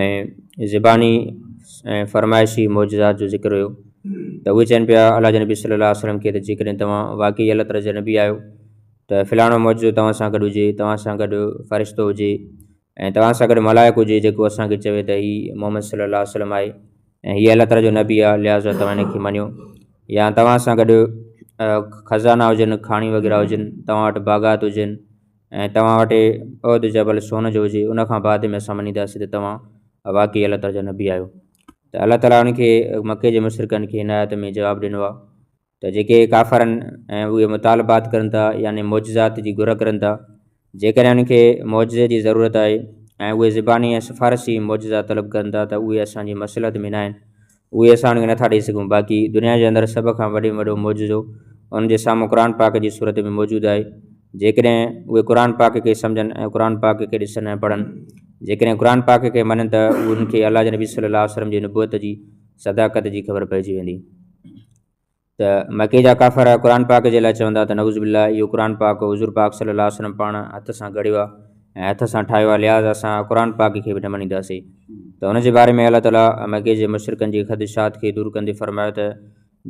۽ زباني ۽ فرمائشي معجزات جو ذڪر هيو ته اهي چون پيا الله جي نبي صلي الله عليه وسلم کي ته جيڪڏهن توهان واقعي الله تعاليٰ جا نبي آهيو ته فلاڻو معجزو توهان سان گڏ هجي توهان سان گڏ فرشتو هجي ۽ توهان سان گڏ ملائڪ هجي جيڪو اسانکي چوي ته هي محمد صلي الله عليه وسلم آهي ۽ هي الله تعاليٰ جو نبي آهي لحاظا توهان هن کي مڃيو يا توهان سان گڏ خزانا هجن کاڻيون وغيره هجن توهان وٽ باغات هجن ۽ توهان وٽ عهد جبل سون جو هجي ان کان بعد ۾ اسان مڃينداسين ته توهان واقعي الله تعاليٰ جا نبي آهيو ته الله تعاليٰ ان کي مڪي جي مشرڪن کي هن آيت ۾ جواب ڏنو آهي ته جيڪي ڪافر آهن ۽ اهي مطالبات ڪرن ٿا يعني معجزات جي گهر ڪرن ٿا جيڪڏهن انهن کي معجزي جي ضرورت آهي ۽ اهي زباني ۽ سفارشي معجزا طلب ڪرن ٿا ته اهي اسان جي مصلحت ۾ نه آهن اهي اسان ان کي نٿا ڏئي سگهون باقي دنيا جي اندر سڀ کان وڏي ۾ وڏو معجزو انهن جي سامهون قرآن پاڪ جي صورت ۾ موجود آهي جيڪڏهن اهي قرآن پاڪ کي سمجهن ۽ قرآن پاڪ کي ڏسن ۽ پڙهن جيڪڏهن قرآن پاڪ کي مڃن ته انهن کي الله جي نبي صلي الله وسلم جي نبوت جي صداقت جي خبر پئجي ويندي ته مڪي جا ڪافر قرآن پاڪ جي لاء چوندا ته نعوذ بالله اهو قرآن پاڪ حضور پاڪ صلي الله عليه وسلم پاڻ هٿ سان گهڙيو آهي ۽ هٿ سان ٺاهيو آهي لحاظ اسان قرآن پاڪ کي به نه مڃينداسين ته ان جي باري ۾ الله تعاليٰ مڪي جي مشرڪن جي خدشات کي دور ڪندي فرمايو ته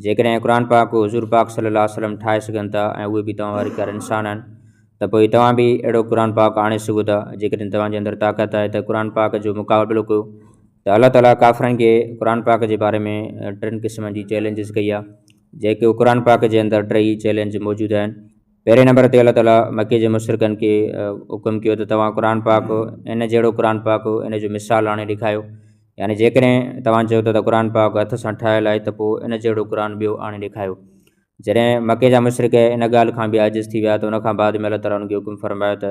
جيڪڏهن قرآن پاڪ حضور پاڪ صلي الله عليه وسلم ٺاهي سگهن ٿا ۽ اهي به توهان واري ڪار انسان آهن ته پوء توهان به اهڙو قرآن پاڪ آڻي سگهو ٿا جيڪڏهن توهان جي اندر طاقت آهي ته قرآن پاڪ جو مقابلو ڪيو ته الله تعاليٰ ڪافرن کي قرآن پاڪ جي باري ۾ ٽن قسمن جي چئلينجز ڪئي آهي جيڪي قرآن پاڪ جي اندر ٽيئي چئلينج موجود آهن پهرين نمبر تي الله تعاليٰ مڪي جي مشرقن کي حڪم ڪيو ته توهان قرآن پاڪ ان جهڙو قرآن پاڪ ان جو مثال آڻي ڏيکايو يعني جيڪڏهن توهان چيو ته قرآن پاڪ هٿ سان ٺاهيل آهي ته پوء ان جهڙو قرآن ٻيو آڻي ڏيکايو جڏهن مڪي جا مشرق ان ڳالهه کان به عاجز ٿي ويا ته ان کان بعد ۾ الله تعاليٰ ان کي حڪم فرمايو ته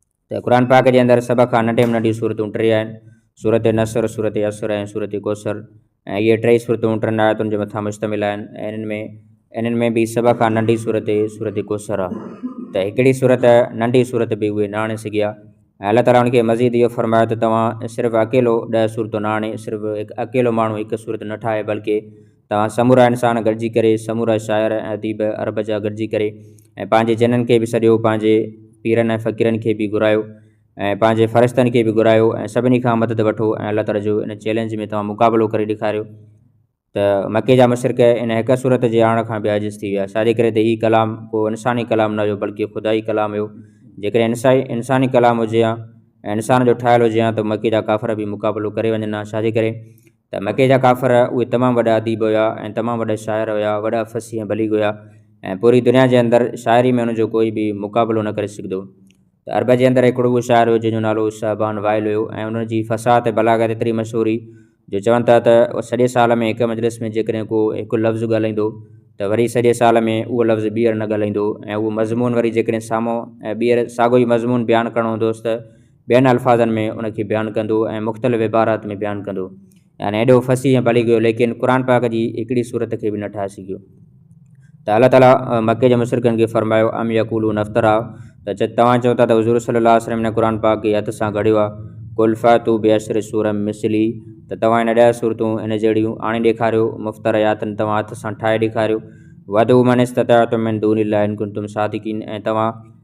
ته قرآن پاڪ جي اندر سڀ کان ننڍي ۾ ننڍيون سورتون ٽي آهن، سورة نصر، سورة يسر ۽ سورة ڪوثر ۽ اهي ٽئي سورتون ٽن آيتن جي مٿان مشتمل آهن ۽ انهن ۾ انهن ۾ به سڀ کان ننڍي سورت سورة ڪوثر آهي ته هڪڙي سورت ننڍي سورت به اهي نه آڻي سگهيا ۽ الله تعاليٰ انهن کي مزيد اهو فرمايو ته توهان صرف اڪيلو ڏهه سورتون نه آڻي صرف هڪ اڪيلو ماڻهو هڪ سورت نه ٺاهي بلڪه توهان سمورا انسان گڏجي ڪري، سمورا شاعر ۽ اديب عرب جا گڏجي ڪري ۽ پنهنجي جنن کي به سڏيو، پنهنجي پيرن ۽ فقيرن کي به گهرايو ۽ پنهنجي فرشتن کي به گهرايو ۽ سڀني کان مدد وٺو ۽ الله تعالي جو ان چئلينج ۾ توهان مقابلو ڪري ڏيکاريو ته مڪي جا مشرڪ ان حقه صورت جي آڻڻ کان به عاجز ٿي ويا، ڇا جي ڪري ته هي ڪلام ڪو انساني ڪلام نه هيو بلڪه خدائي ڪلام هيو، جيڪڏهن انساني ڪلام هجي ها ۽ انسان جو ٺاهيل هجي ها ته مڪي جا ڪافر به مقابلو ڪري وڃن ها، ڇا جي ڪري؟ ته مڪي جا ڪافر اهي تمام وڏا اديب هيا ۽ تمام وڏا شاعر هيا، وڏا فصيح ۽ بليغ هيا ۽ پوري دنيا جي اندر شاعري ۾ انهن جو ڪوئي به مقابلو نه ڪري سگهندو ته عرب جي اندر هڪڙو اهو شاعر هيو جنهن جو نالو صهبان وائل هيو ۽ انهن جي فصاحت ۽ بلاغت ايتري مشهور هئي جو چون ٿا ته سڄي سال ۾ هڪ مجلس ۾ جيڪڏهن ڪو هڪ لفظ ڳالهائيندو ته وري سڄي سال ۾ اهو لفظ ٻيهر نه ڳالهائيندو ۽ اهو مضمون وري جيڪڏهن سامهون ٻيهر ساڳيو ئي مضمون بيان ڪرڻو هوندوس ته ٻين الفاظن ۾ ان کي بيان ڪندو ۽ مختلف عبارات ۾ بيان ڪندو يعني ايڏو فصيح ۽ بليغ هيو ليڪن قرآن پاڪ جي هڪڙي سورت کي به نه ٺاهي سگهيو ته الله تعاليٰ مڪي جي مشرڪن کي فرمايو ام يقولون افترا ته چت توهان چئو ٿا ته حضور صلي الله عليه وسلم هن قرآن پاڪ کي هٿ سان گهڙيو آهي قل فاتو بعشر سور مثلي ته توهان هن ڏهه سورتون هن جهڙيون آڻي ڏيکاريو مفترياتن توهان هٿ سان ٺاهي ڏيکاريو وادو من استطاعتم من دون الله ان ڪنتم صادقين ۽ توهان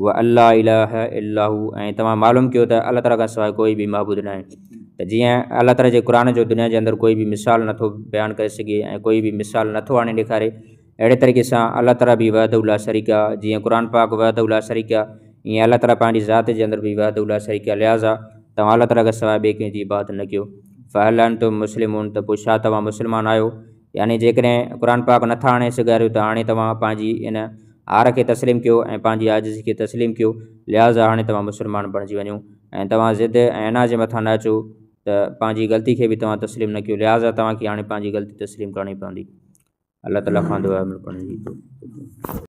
هو اللّٰه اله الا هو ۽ توهان معلوم ڪيو ته الله تعاليٰ کان سواء ڪوئي به معبود ناهي ته جيئن الله تعاليٰ جي قرآن جو دنيا جي اندر ڪوئي به مثال نه ٿو بيان ڪري سگهي ۽ ڪوئي به مثال نه ٿو آڻي ڏيکاري اهڙي طريقي سان الله تعاليٰ به وحده لا شريڪ آ جيئن قرآن پاڪ وحده لا شريڪ آ ائين الله تعاليٰ پنهنجي ذات جي اندر به وحده لا شريڪ آ لهٰذا توهان الله تعاليٰ کان سواء ٻئي ڪنهن جي عبادت نه ڪيو فهل انتم مسلمون ته پوء ڇا توهان مسلمان آهيو يعني جيڪڏهن قرآن پاڪ نٿا آڻي سگهاريو ته هاڻي توهان پنهنجي ان عار کي تسليم ڪيو ۽ پنهنجي عاجزي کي تسليم ڪيو لهٰذا هاڻي توهان مسلمان بڻجي وڃو ۽ توهان ضد ۽ عناد جي مٿان نه اچو ته پنهنجي غلطي کي به توهان تسليم نه ڪيو لهٰذا توهان کي هاڻي پنهنجي غلطي تسليم ڪرڻي پوندي. الله تعاليٰ کان دعا ۽ ملڪڻ جي.